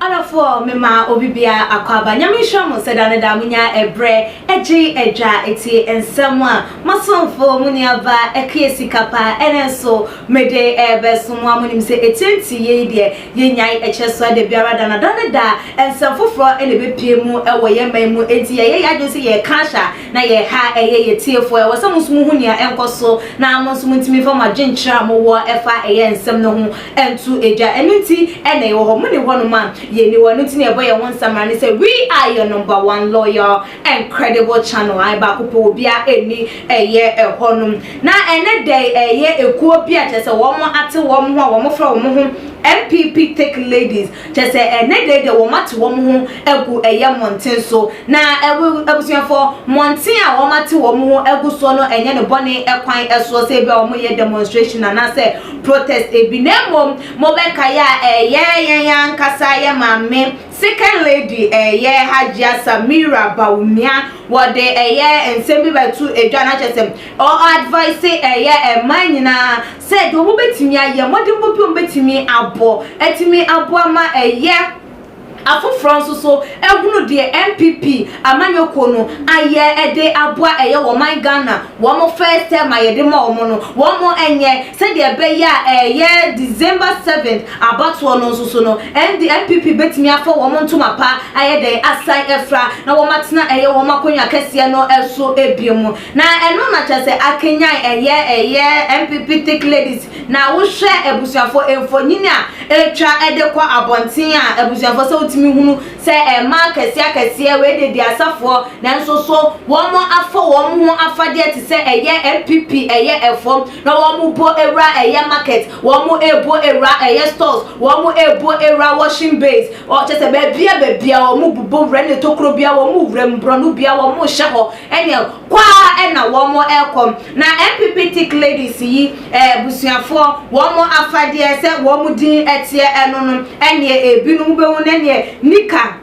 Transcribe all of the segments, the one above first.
Ɔdɔfoɔ mema obi biara akwaaba Nyame nhyira mo sɛ da ne da monya ɛbrɛ ɛgye ɛdwa ɛtie nsɛm a masomfo mo nuaba ɛkue sika pa ɛne nso mede ɛɛbɛso mo a monim sɛ ɛtie nti yei deɛ yɛnyae ɛkyɛ soa da biara da na da ne da nsɛm foforɔ ɛna ɛbɛpie mu ɛwɔ yɛ man mu ɛnti yɛyɛ yɛ adwene sɛ yɛɛka ahyɛ a na yɛɛha ɛyɛ yɛ tiefoɔ ɛwɔ sɛ mo nso mo hu nea ɛnkɔ so na mo nso mo ntumi fa mo adwenkyerɛ a mo wɔ ɛfa ɛyɛ nsɛm no ho nto agya. Ɛno nti na yɛwɔ hɔ. Mo ne hɔnom a, yɛnni hɔ. Ɛno nti na yɛbɔ yɛn ho nsamena ne sɛ, We are your number one loyal and credible channel. Ae, baako pɛ, obiara nni ɛyɛ hɔnom. Na ɛnnɛ da yi, ɛyɛ ekuo bi a kyerɛ sɛ wɔate wɔn ho a wɔfrɛ wɔn ho MPP Thick Ladies. Kyerɛ sɛ, ɛnnɛ da yi deɛ wɔate wɔn ho agu ɛyɛ mmɔnten so. Na abusuafoɔ, mmɔnten a wɔate wɔn ho agu soɔ no ɛnyɛ no bɔne kwan soɔ sɛ ebia wɔyɛ demonstration anaasɛ protest bi. Na mmom, mobɛkae a, ɛyɛ yɛn ankasa yɛn maame, Second Lady, ɛyɛ Hajia Samira Bawumia, wɔde ɛyɛ nsɛm bi bɛto dwa, na kyerɛ sɛ ɔ-advise ɛyɛ mmaa nyinaa sɛ deɛ wɔbɛtumi ayɛ, mmɔdenbɔ bi a wɔbɛtumi abɔ atumi aboa ma ɛyɛ afoforɔ nso so ahunu deɛ NPP amanyɔkuo no ayɛ de aboa ɛyɛ wɔ ɔman Ghana, wɔn first term a yɛde ma wɔn no, wɔnyɛ, sɛdeɛ ɛbɛyɛ a ɛyɛ December seventh abatoɔ no nso so no, ɛnde NPP bɛtumi afa wɔn ntoma pa ayɛ dɛn, asan afira na wɔatena ɛyɛ wɔn akonnwa kɛseɛ no so bio. Na ɛno na kyerɛ sɛ akanyan ɛyɛ ɛyɛ NPP Thick Ladies na wo hwɛ abusuafo mfonyin a etwa de kɔ abɔnten a abusuafo sɛ wotumi hunu sɛ ɛma akɛseɛ akɛseɛ wei de deɛ asafoɔ nanso so wɔn afa wɔn ho afadeɛ te sɛ ɛyɛ NPP ɛyɛ ɛfɔm na wɔn bo awura ɛyɛ market wɔn ebo awura ɛyɛ stores wɔn ebo awura washing bays ɔ kyɛ sɛ baabia baabia wɔn bobɔ wura ne tokuro bia wɔn wura mu borɔno bia wɔn hyɛ hɔ Ɛneɛ kɔ ara na wɔn rekɔ. Na NPP Tik Ladies yi abusuafoɔ wɔn afadeɛ sɛ wɔn din teɛ ɛno no ɛneɛ ɛbinom wobɛhu no ɛneɛ nika,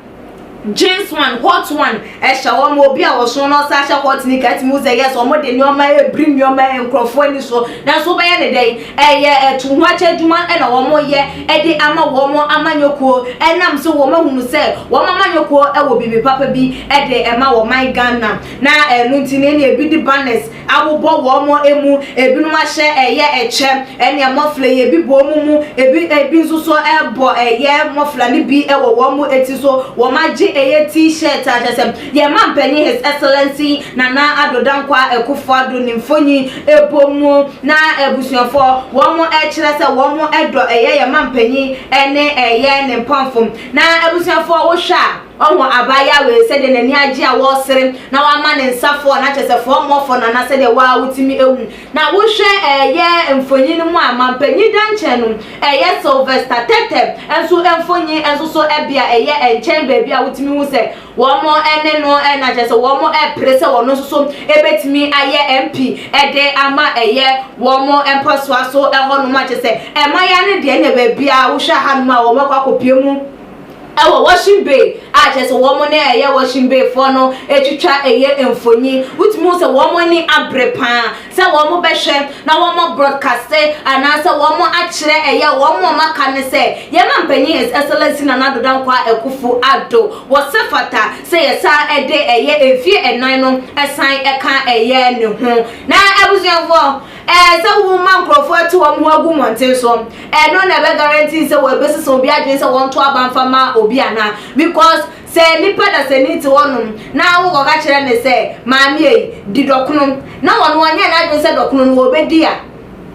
jeans one, hot one ɛhyɛ wɔn. Obi a ɔso na ɔsan hyɛ hot nika atumi hu sɛ yes wɔn de nnoɔma ɛrebiri nnoɔma nkorɔfoɔ ani soɔ. Nanso wobɛyɛ no dɛn Ɛyɛ ɛtohoakyɛ adwuma na wɔyɛ de ama wɔn amanyɔkuo ɛnam sɛ wɔahunu sɛ wɔn amanyɔkuo wɔ biribi papa bi de ma ɔman Ghana na ɛno nti no ɛna ɛbi de banners abobɔ wɔn mu, ɛbinom ahyɛ ɛyɛ ɛkyɛ ɛne mɔfla yi, ɛbi bɔ wɔn mu, ɛbi ɛbi nso so bɔ ɛyɛ mɔfla no bi wɔ wɔn ti so, wɔn agye ɛyɛ T-shirt a kyerɛ sɛ. Yɛn Mampanyin His Excellency Nana Addo Dankwa Akuffo Addo ne mfonyi bɔ mu na abusuafo wɔn kyerɛ sɛ wɔn dɔ yɛ yɛn Mampanyin ne yɛ ne mpamfo na abusuafo wo hwɛ a ɔho abaayewa wei sɛdeɛ n'ani agye a wɔsere na wama ne nsa fɔɔ na kyerɛ sɛ fɔɔ mɔ fɔ Nana sɛdeɛ waa wo tumi hu na wo hwɛ yɛ mfonyi no mu a Mampanyin Dankyɛn no yɛ Sylvester Tɛtɛ nso mfonyi nso so bea yɛ nkyɛn baabi a wo tumi hu sɛ Wɔne no na kyerɛ sɛ wɔpere sɛ wɔn nso so bɛtumi ayɛ MP de ama ɛyɛ wɔn mpɔsoa so hɔnom a kyerɛ sɛ ɛma yɛ ne deɛ ne baabiara wohwɛ hanom a wɔn akɔ akɔpie mu ɛwɔ Washing Bay a kyerɛ sɛ wɔn ne ɛyɛ Washing Bay foɔ no atwitwa ɛyɛ mfoni wotumi hu sɛ wɔn ani abere paa sɛ wɔn bɛhwɛ na wɔn broadcaste anaasɛ wɔn akyerɛ ɛyɛ wɔn wɔn aka ne sɛ yɛma mpanyin His Excellency Nana Addo Dankwa Akufo Addo wɔ sɛ fata sɛ yɛsan ɛde ɛyɛ mfie ɛnan no ɛsan ɛka ɛyɛ ne ho na abusuafoɔ ɛɛ sɛ wo ma nkorɔfoɔ ɛte wɔn ho agu mmɔnten so ɛno na ɛbɛ guarantee sɛ wɔ ɛbɛsesa obi adwene sɛ wɔn to aba nfa ma obi anaa because Sɛ nipa dasani te hɔnom na awowɔ ka kyerɛ no sɛ, Maame ei, di dɔkono, na ɔno ɔnyɛ n'adwene sɛ dɔkono no ɔbɛdi a,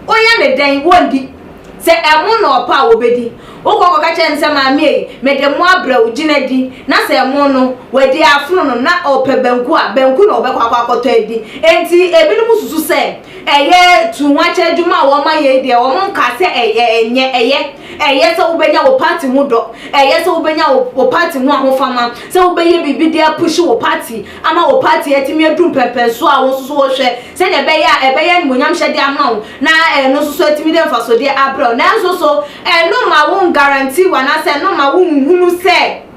woyɛ no dɛn? Wɔndi. Sɛ ɛmo na ɔpɛ a, ɔbɛdi. Wokɔ kɔka kyerɛ no sɛ, Maame ei, mede mo abrɛ wo, gyina di. Na sɛ ɛmo no, wadi afono no, na ɔpɛ banku a, banku na ɔbɛkɔ akɔ akɔtɔ adi. Enti ebinom susu sɛ ɛyɛ tu ho akyɛdwuma a wɔma yɛ yi deɛ, wɔnkaa sɛ ɛyɛ, ɛnyɛ, ɛyɛ. Ɛyɛ sɛ wobɛnya wo party ho dɔ. Ɛyɛ sɛ wobɛnya wo wo party ho ahofama, sɛ wobɛyɛ biribi de apushi wo party ama wo party atumi adu mpɛnpɛnsoɔ a wo nso so wohwɛ sɛdeɛ ɛbɛyɛ a ɛbɛyɛ animuonyamhyɛdeɛ ama wo na ɛno nso so atumi de mfasodeɛ abrɛ wo. Nanso so ɛno mma wo ngarantee wo anaasɛ ɛno mma wo nhunu sɛ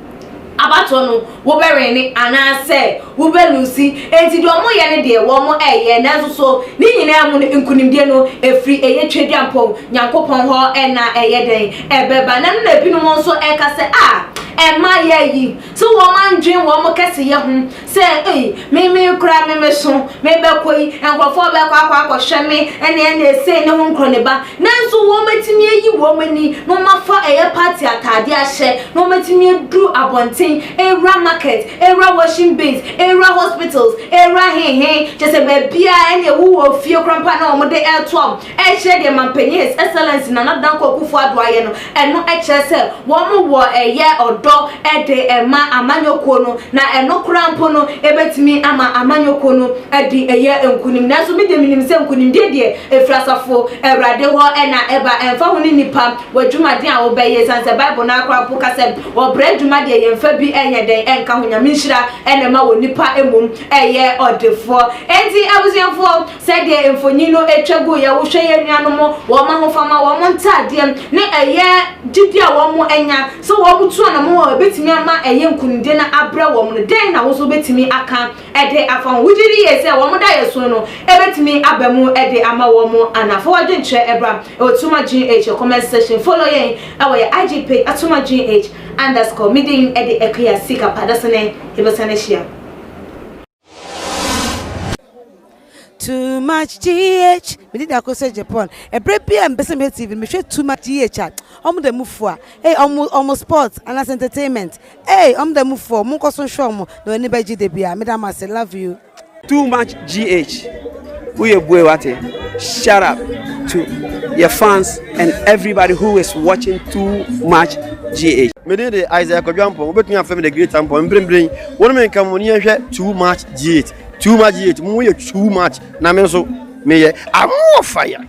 Abatoɔ no wobɛwene anaasɛ wobɛluusi, enti deɛ wɔyɛ no deɛ wɔyɛ, nanso so ne nyinaa mu no nkonimdie no firi ɛyɛ Tweaduampɔn Nyankopɔn hɔ na ɛyɛ dɛn ɛbɛba? Na ɛno na ebinom nso ɛka sɛ, Ah, mmayewa yi, so wɔandwene wɔn kɛseyɛ ho? Sɛ, Ei, me, me koraa me me so, me bɛkɔ yi, nkorɔfoɔ bɛkɔ akɔ akɔhwɛ me, ɛne, ɛne ɛsei ne ho nkorɔniba, nanso wɔn bɛtumi ayi wɔn ani na wɔn afa ɛyɛ party ataadeɛ ahyɛ, na wɔn bɛtumi aduru abɔnten, awura market, awura washing bins, awura hospitals, awura he he, kyerɛ sɛ baabiara, ɛne ɛwowɔ fie koraa mpo a na wɔn de ɛɛtoa wɔn. Ɛnkyerɛ deɛ Mampanyin His Excellency Nana Danko Akuffo Addo ayɛ no, ɛno kyerɛ sɛ wɔn wɔ ɛyɛ ɔdɔ de ma amanyɔkuo no, na ɛno koraa mpo no ɛbɛtumi ama amanyɔkuo no adi ɛyɛ nkunim. Nanso me deɛ menim sɛ nkunimdie deɛ ɛfiri asafo Awurade hɔ na ɛba, ɛmfa ho ne nnipa w'adwumaden a wobɛyɛ, ɛsiane sɛ Bible no ara koraa mpo ka sɛ ɔbrɛ adwuma deɛ yɛmfa bi nyɛ dɛn nka ho, Nyame nhyira na ɛma onipa mmom yɛ ɔdefoɔ. Enti abusuafoɔ, Sɛdeɛ mfonin no twa gu yɛ, wohwɛ yɛn nuanom, wɔn ahofama, wɔn ntadeɛ, ne ɛyɛ gyidie a wɔanya, sɛ wɔtu anamɔn a ɛbɛtumi ama ɛyɛ nkunimdie na abrɛ wɔn no, dɛn na wo nso wobɛtumi aka de afa ho? Wogye di yie sɛ wɔn daeɛso no bɛtumi aba mu de ama wɔn anaa? Fa w'adwenkyerɛ bra wɔ Tuma-GH comment section. Follow yɛn wɔ yɛn IG page at Tuma-GH underscore. Me din de Akua Sikapa. Dasene yɛbɛsane ahyia. too much gh me didi akɔ sɛ japan ɛberɛ bi a mpɛsɛ mehwɛ tv mehwɛ too much gh a ɔmo da mu fua ee ɔmo ɔmo sports anaasɛ entertainment ee ɔmo da mu fua ɔmo nkɔ so nhwɛ ɔmo na w'ani bɛgye da bi a meda mo ase love you too much gh. Woyɛ bue wate. Shout out to yɛ fans and everybody who is watching too much GH. Me din de Isaiah Kwadwo Ampong, wobɛtumi afrɛ me The Great Ampong. Mprempren yi, wo ne me nka mo ani nhwɛ Too Much GH. Too Much GH, mo yɛ too much, na me nso meyɛ. Amoɔfaya!